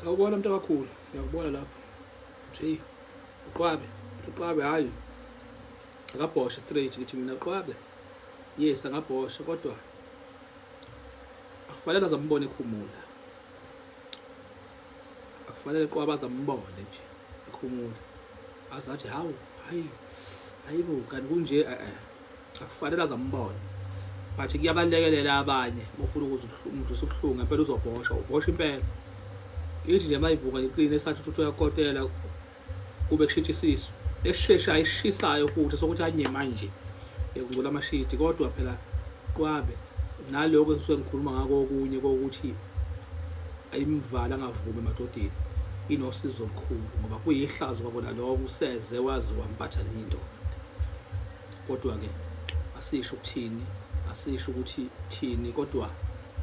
sawubona mntu akakhulu ngiyakubona lapho nje uqwabe uqwabe hayi akabhoshe straight ngithi mina uqwabe yes angabhoshe kodwa akufanele azambone ekhumula akufanele qwaba azambone nje ekhumula azathi hawu hayi hayibo kanti kunje eh, eh. akufanele azambone but kuyabalekelela abanye mufuna ukuzidlisa ubuhlungu ngempela uzobhosha ubhosha impela ithi nje mayivuka ngiqine sathi ukuthi uyakotela kube kushintsha isisu esisheshayo esishisayo futhi sokuthi anye manje ekungcola amashidi kodwa phela qwabe naloko engisuke ngikhuluma ngako okunye kokuthi ayimvala angavumi emadodeni inosizo olukhulu ngoba kuyihlazo kwakona loko useze wazi wampatha nenye indoda kodwa-ke asisho ukuthini asisho ukuthi thini kodwa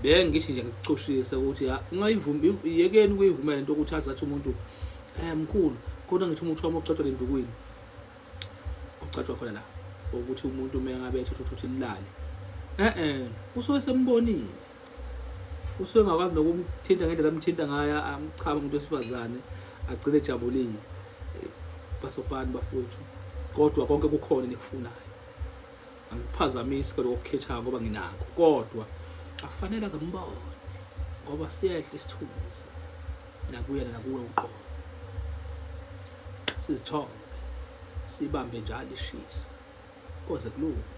bengithi nje ngikucushise ukuthi ungayivumi yekeni ukuyivumela into ukuthi athi athi umuntu eh mkhulu kodwa ngithi umuntu wami ucatshwa lendukwini ucatshwa khona la ukuthi umuntu uma ngabe ethatha ukuthi lilale eh eh usuke sembonile usuke engakwazi nokumthinta ngendlela amthinta ngayo amchame umuntu wesifazane agcine ejabulile eh, basopani bafowethu kodwa konke kukhona nikufunayo angiphazamisi kodwa kokukhethayo ngoba nginako kodwa akufanele aze mbone ngoba siyehle isithunzi nakuyena nakuwe uqobo sizithombe sibambe njalo ishisa koze kulunge